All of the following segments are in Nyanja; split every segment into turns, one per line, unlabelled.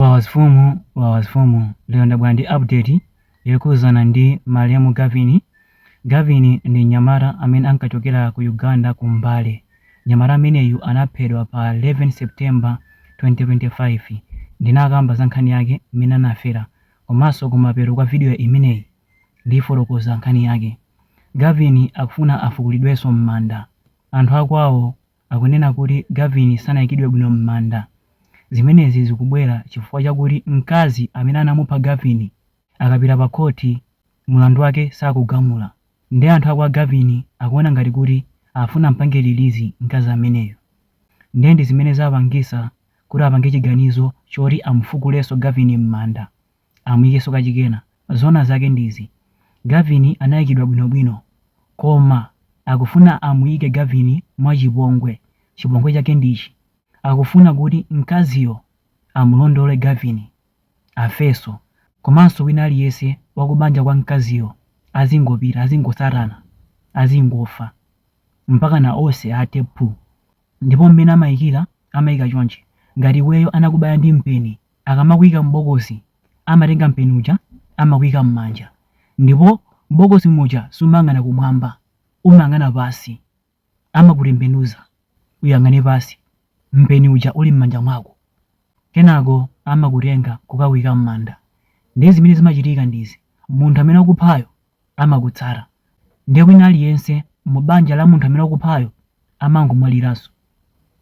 Wawa mfumu wawa mfumu lero ndabwera ndi update yokhuzana ndi malemu Gavin Gavin ndi mnyamata amene ankachokera ku Uganda ku Mbale mnyamata ameneyu anaphedwa pa 11 September 2025 ndinakamba za nkhani yake mmene anafera komanso kumapeto kwa video imeneyi ndifotokoza nkhani yake Gavin akufuna afukulidwenso m'manda anthu akwawo akunena kuti Gavin sanaikidwe bwino m'manda. Zimenezi zikubwera chifukwa chakuti mkazi amene anamupha Gavin akapita pa khoti, mlandu wake sakugamula. Nde anthu a kwa Gavin akuona ngati kuti afuna ampange release mkazi ameneyu. Nde ndi zimene zapangitsa kuti apange chiganizo choti amufukulenso Gavin m'manda. amuyikenso kachikena. Zoona zake ndi izi, Gavin anayikidwa bwino bwino koma akufuna amuyike Gavin mwachipongwe. Chipongwe chake ndi ichi, akufuna kuti mkaziyo amulondole Gavin afenso komanso wina aliyense wakubanja kwa mkaziyo azingopita, azingotsatana, azingofa mpakana onse athe phu. Ndipo mmene amayikira, amayika chonchi, ngati iweyo anakubaya ndi mpeni Akamakuika m'bokosi amatenga mpeni uja amakuika m'manja ndipo m'bokosi muja sumayang'ana kumwamba umayang'ana pansi. Amakutembenuza uyang'ane pansi mpeni uja uli m'manja mwako. Kenako amakutenga kukakuika m'manda. Ndiye zimene zimachitika ndi izi, munthu amene wakuphayo amakutsata nde wina aliyense mu banja la munthu amene wakuphayo amangomwaliranso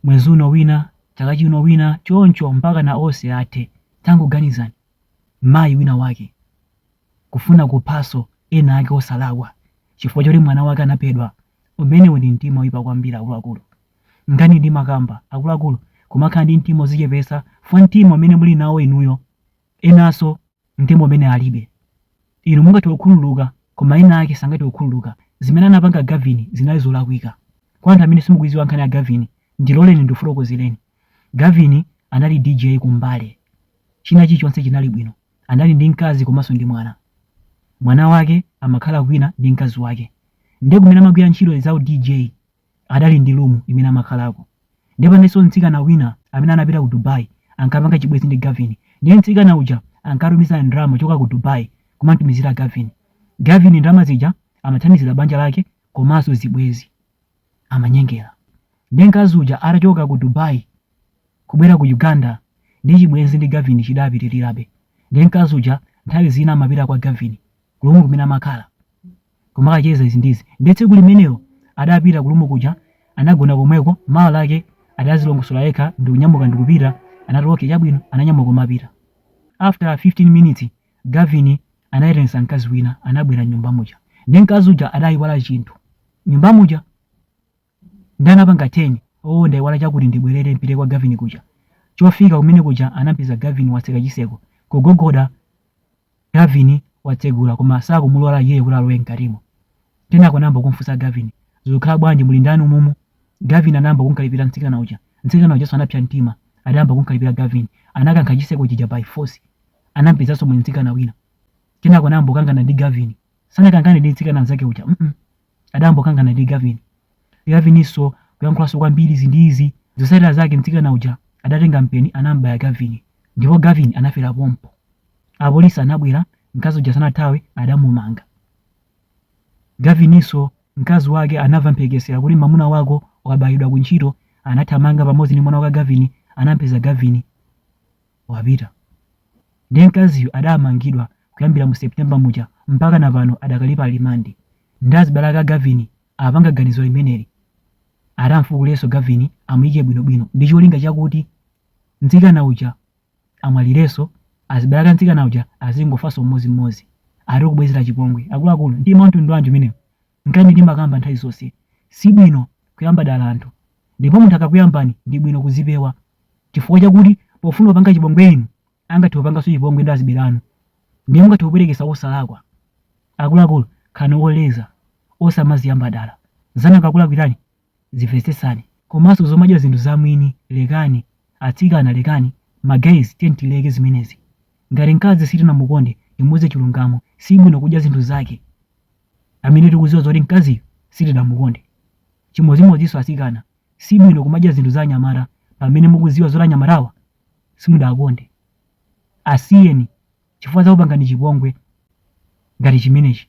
mwezi uno wina chaka chino wina choncho mpakana onse athe. Tangoganizani mayi wina wake kufuna kuphanso ena ake osalakwa chifukwa choti mwana wake anaphedwa umenewu ndi mtima oyipa kwambiri akuluakulu nchani ndimakamba akuluakulu kumakhala ndi mtima ozichepesa chifukwa mtima umene muli nawo inuyo enanso umene alibe. Inu mungathe kukhululuka, koma ena ake sangathe kukhululuka. Zimene anapanga Gavin zinali zolakwika. Kwa anthu amene simukuidziwa nkhani ya Gavin, ndiloleni ndikufotokozereni. Gavin anali DJ ku Mbale. China chilichonse chinali bwino. Anali ndi mkazi komanso ndi mwana. Mwana wake amakhala kwina ndi mkazi wake. Ndiye kumene amagwira ntchito za u DJ adali ndi room imene amakhalako ndiye panalinso mtsikana wina amene anapita ku Dubai ankapanga chibwenzi ndi Gavin ndiye mtsikana uja ankatumiza ndalama kuchoka ku Dubai kumamtumizira Gavin Gavin ndalama zija amathandizira banja lake komanso zibwenzi amanyengera ndiye mkazi uja atachoka ku Dubai kubwera ku Uganda ndi chibwenzi ndi Gavin chidapitirirabe ndiye mkazi uja nthawi zina amapita kwa Gavin ku room kumene amakhala Kumakacheza izi ndi izi. Ndiye tsiku limenelo adapita ku room kuja anagona komweko mawa lake adazilongosola yekha ndikunyamuka ndikupita anati okay chabwino ananyamuka kumapita. After 15 minutes Gavin anaitanitsa mkazi wina anabwera mnyumba muja. Ndiye mkazi uja adaiwala chinthu mnyumba muja. Nde anapanga turn oo ndaiwala chakuti ndibwelere mpite kwa Gavin kuja. Pofika kumene kuja anampeza Gavin watseka chiseko. Kugogoda Gavin watsegula koma sakumulora iyeyo kuti alowe mkatimo. Kenako anayamba kumfunsa Gavin, zikukhala bwanji muli ndani umumu? Gavin anayamba kumkalipira mtsikana uja. Mtsikana ujanso anapsa mtima adayamba kumkalipira Gavin. Anakankha chiseko chija by force. Anampezanso muli mtsikana wina. Kenako anayamba kukangana ndi Gavin. Sanakangane ndi mtsikana mzake uja mm. adangokangana ndi Gavin. Gavininso kuyankhulanso kwambiri izi ndi izi. Zotsatira zake mtsikana uja adatenga mpeni anam'baya Gavin ndipo Gavin anafera pompo. Apolisi anabwera, mkazi uja sanathawe adamumanga. Gavininso mkazi wake anamva mphekesera kuti mwamuna wako wabayidwa ku ntchito anathamanga pamodzi ndi mwana wake Gavin anampeza Gavin wapita. Ndiye mkaziyu adamangidwa kuyambira mu September muja mpakana pano adakali pa limandi nde azibale ake a Gavin apanga ganizo limeneli ati amfukulenso Gavin amuyike bwinobwino ndi cholinga chakuti mtsikana uja amwalirenso azibale ake a mtsikana uja azingofanso mmodzimmodzi ati kubwezera chipongwe akuluakulu mtima wa mtundu wanji umenewu nkhani ndimakamba nthawi zonse si bwino kuyamba dala anthu ndipo munthu akakuyambani ndi bwino kuzipewa chifukwa chakuti pofuna kupanga chipongwe inu angathe kupanganso chipongwe ndi azibale anu ndiye mungathe kupwetekesa wosalakwa akuluakulu khalani oleza osamaziyamba dala zanu akakulakwirani zimvetsetsani komanso zomadya zinthu za mwini lekani atsikana lekani ma guys tiyeni tileke zimenezi ngati mkazi sitinamukonde timuuze chilungamo sibwino kudya zinthu zake amene tikuziwa zoti mkaziyo sitidamukonde chimodzimodzinso atsikana sibwino kumadya zinthu za anyamata pamene mukuziwa zoti anyamatawa simudawakonde. Asiyeni chifukwa adzakupangani chipongwe ngati chimenechi.